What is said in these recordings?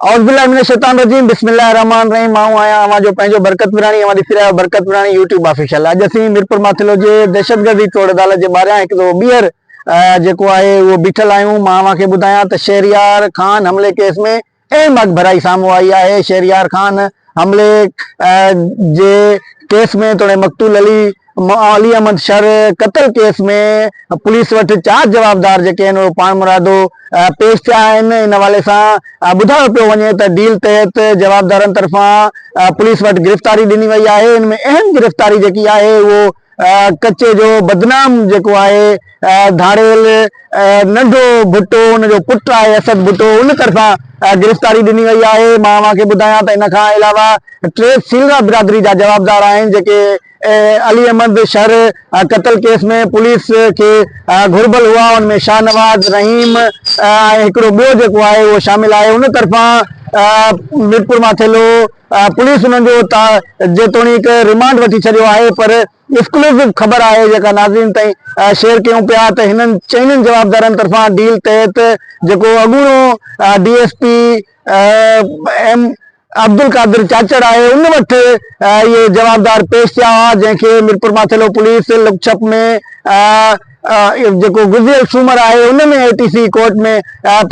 اعوذ بالله من الشيطان الرجيم بسم الله الرحمن الرحيم مان آهيان اوهان جو پنهنجو برڪت وراڻي اوهان ڏسي رهيا برڪت وراڻي يوٽيوب آفيشل اڄ اسين ميرپور ماٿلو جي دهشتگردي ٽوڙ عدالت جي ٻاهريان هڪ دفعو ٻيهر جيڪو آهي اهو بيٺل آهيون مان اوهان کي ٻڌايان ته شهريار خان حملي ڪيس ۾ اهم اڳڀرائي سامهون آئي آهي شهريار خان حملي جي ڪيس ۾ توڙي مقتول علي علي احمد شر قتل ڪيس ۾ پوليس وٽ چار جوابدار جيڪي آهن اهي پاڻمرادو پيش ٿيا آهن ان حوالي سان ٻڌايو پيو وڃي ته ڊيل تحت جوابدارن طرفان پوليس وٽ گرفتاري ڏني وئي آهي ان ۾ اهم گرفتاري جيڪي آهي اهو ڪچي جو بدنام جيڪو آهي ڌاڙيل ننڍو ڀٽو ان جو پٽ آهي اسد ڀٽو ان طرفان گرفتاري ڏني وئي آهي مان اوهان کي ٻڌايان ته ان کان علاوه ٽي سيلرا برادري جا جوابدار آهن جيڪي علي احمد شر قتل ڪيس ۾ پوليس کي گهربل هئا ان ۾ شاهنواز رحيم ۽ هڪڙو ٻيو جيڪو آهي اهو شامل آهي ان طرفان ميرپور ماٿيلو پوليس انهن جو جيتوڻيڪ ريمانڊ وٺي ڇڏيو آهي پر ايڪسڪلوسو خبر آهي جيڪا ناظرين تائين شيئر ڪيون پيا ته هنن چئنن جوابدارن طرفان ڊيل تحت جيڪو اڳوڻو D S P M Abdulqadir Chachar آهي ان وٽ اهي جوابدار پيش ٿيا هئا جنهن کي ميرپورماٿيلو پوليس لڪڇپ ۾ جيڪو گذريل سومر آهي ان ۾ اي ٽي سي ڪورٽ ۾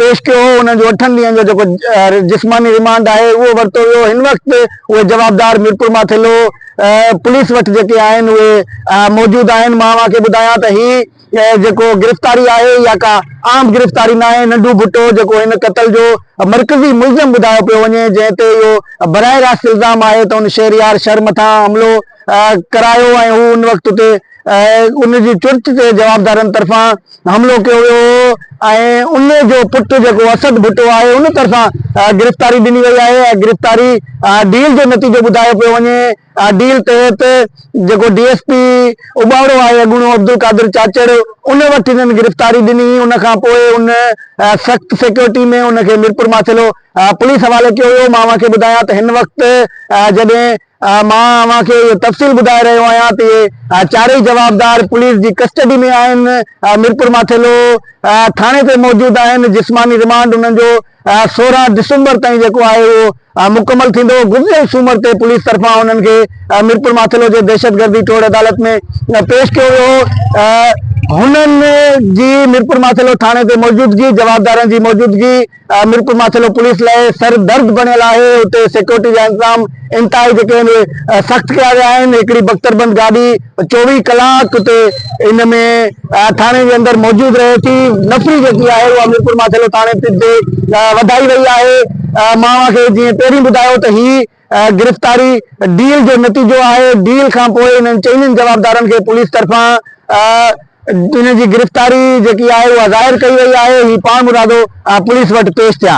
پيش ڪيو هو انهن جو اٺن ڏينهن جو جيڪو جسماني ريمانڊ آهي اهو ورتو ويو هن وقت اهي جوابدار ميرپورماٿيلو پوليس وٽ جيڪي آهن اهي موجود آهن مان اوهان کي ٻڌايان ته هي هيء جيڪو گرفتاري آهي اها ڪا عام گرفتاري ناهي، ننڍو ڀٽو جيڪو هن قتل جو مرڪزي ملزم ٻڌايو پيو وڃي جنهن تي اهو براه راست الزام آهي ته هن شهريار شر مٿان حملو ڪرايو ۽ هو ان وقت اتي ان جي چرچ تي جوابدارن طرفان حملو ڪيو ويو هو ۽ ان جو پٽ جيڪو اسد ڀٽو آهي ان طرفان گرفتاري ڏني وئي آهي، اها گرفتاري ڊيل جو نتيجو ٻڌايو پيو وڃي. ڊيل تحت جيڪو ڊي ايس پي اٻاڙو آهي اڳوڻو عبدالقادر چاچڙ ان وٽ هنن گرفتاري ڏني هئي ان کان پوء ان سخت سيڪيورٽي ۾ ان کي ميرپور ماٿيلو پوليس حوالي ڪيو ويو مان اوهان کي ٻڌايان ته هن وقت جڏهن مان اوهان کي اهي تفصيل ٻڌائي رهيو آهيان ته اهي چارئي جوابدار پوليس جي ڪسٽڊي ۾ آهن ميرپور ماٿيلو ٿاڻي تي موجود آهن جسماني رمانڊ انهن جو سورهن ڊسمبر تائين جيڪو آهي اهو مڪمل ٿيندو، گذريل سومر تي پوليس طرفان انهن کي ميرپور ماٿيلو جي دهشتگردي ٽوڙ عدالت ۾ پيش ڪيو ويو هو، هنن جي ميرپور ماٿيلو ٿاڻي تي موجودگي، جوابدارن جي موجودگي ميرپور ماٿيلو پوليس لاء سر درد بڻيل آهي، اتي سيڪيورٽي جا انتظام انتهائي جيڪي آهن اهي سخت ڪيا ويا آهن، هڪڙي بڪتربند گاڏي. چوويهه ڪلاڪ تي ان ۾ ٿاڻي جي اندر موجود رهي ٿي نفري جيڪي آهي اها ميرپور ماٿيلو ٿاڻي پي تي وڌائي وئي آهي مان اوهان کي جيئن پهرين ٻڌايو ته هي گرفتاري ڊيل جو نتيجو آهي ڊيل کان پوء انهن چئنن جوابدارن کي پوليس طرفان ان جي گرفتاري جيڪي آهي اها ظاهر ڪئي وئي آهي هي پاڻ مرادو پوليس وٽ پيش ٿيا